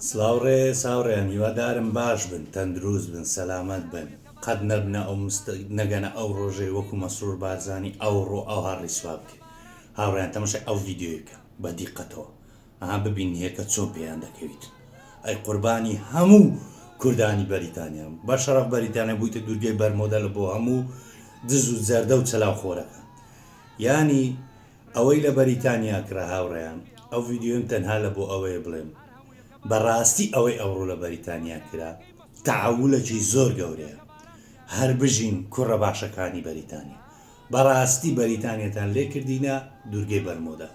سڵاو ڕێز هاوڕێیان هیوا دارم باش بن تەندروست بن سەلامەت بن قەت نەبنە ئەو مست نەگەنە ئەو ڕۆژەی وەکو مەسرور بارزانی ئەو ڕۆ ئەوها ڕیسوا بکرێ هاوڕێیان تەمەشای ئەو ڤیدیۆیکە بە دیقەتەوە ئەها ببین هێکە چۆن پێیان دەکەویت ئەی قوربانی هەموو کوردانی بەریتانیام بە شەڕەف بەریتانیا بوویتە دوورگەی بەرمۆدە لە بۆ هەموو دز و جەردە و چەلاو خۆرەکە یانی ئەوەی لە بەریتانیا کڕا هاوڕێیان ئەو ڤیدیۆیم تەنها لە بۆ ئەوەیە بڵێم بە ڕاستی ئەوەی ئەوڕۆ لە بەریتانیا کرا تەحەولەکی زۆر گەورەیە هەر بژین کوڕە باشەکانی بەریتانیا بە ڕاستی بەریتانیەتان لێ کردینە دوورگەی بەرمۆدا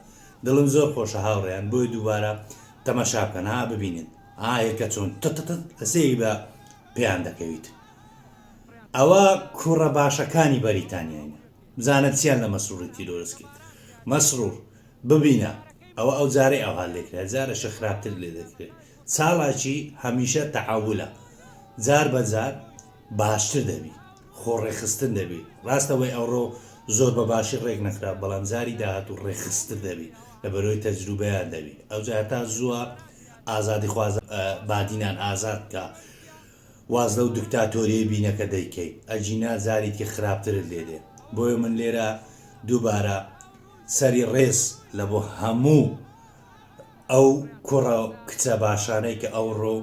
دڵم زۆر خۆشە هاوڕێیان بۆیە دووبارە تەماشا بکەن ها ببینن ئاهێ کە چۆن تتتت ئەسەی بە پێیان دەکەویت ئەوە کوڕە باشەکانی بەریتانیاینە بزانە چیان لە مەسروری تیرۆرست کرد مەسرور ببینە ئەوە ئەو جارەی ئەوها لێکرا جارەشە خراپتر لێ دەکرێ چالاکی هەمیشە تەعاولە جار بە جار باشتر دەبی خۆ ڕێکخستن دەبی ڕاستە وەی ئەوڕۆ زۆر بە باشی ڕێک نەخرا بەڵام جاری داهاتوو ڕێکخستر دەبی لە بەرۆی تەجروبەیان دەبی ئەو جار تا زووە ئازادی خوازە بادینان ئازاد کە واز لەو دکتاتۆریەی بینەکە دەیکەی ئەگینا جاریکی خراپترت لێ دێ بۆیە من لێرە دووبارە سەری ڕێز لە بۆ هەموو ئەو کوڕە کچە باشانەی کە ئەو ڕۆ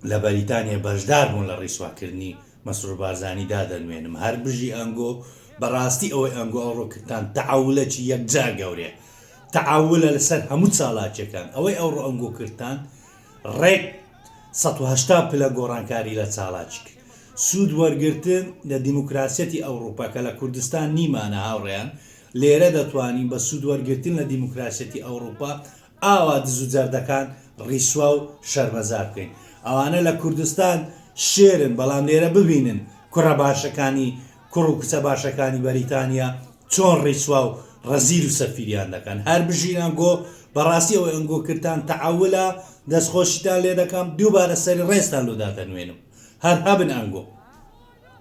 لە بەریتانیا بەشدار بوون لە ڕیسواکردنی مەسرور بارزانی دادەنوێنم هەر بژی ئەنگۆ بەڕاستی ئەوەی ئەنگۆ ئەو ڕۆکردان تەعاولەکی یەکجار گەورەیە تەعاولە لەسەر هەموو چالاکیەکان ئەوەی ئەو ڕۆ ئەنگۆ کردان ڕێک سەد و هەشتا پلە گۆڕانکاری لە چالاکی کرد. سوود وەرگرتن لە دیموکراسیەتی ئەوڕوپا کە لە کوردستان نیمانە هاوڕێیان، لێرە دەتوانین بە سوود وەرگرتن لە دیموکراسیەتی ئەوڕوپا ئاوا دز و جەردەکان ڕیسوا و شەرمەزار بکەین. ئەوانە لە کوردستان شێرن بەڵام لێرە ببینن کوڕە باشەکانی کوڕ و کچە باشەکانی بەریتانیا چۆن ڕیسوا و ڕەزیل و سەفیریان دەکەن هەر بژین ئەنگۆ بەڕاستی ئەوەی ئەنگۆ کردتان تەعەولە دەست خۆشیتان لێ دەکەم دووبارە سەری ڕێزتان لۆ دادەنوێنم هەر هەبن ئەنگۆ.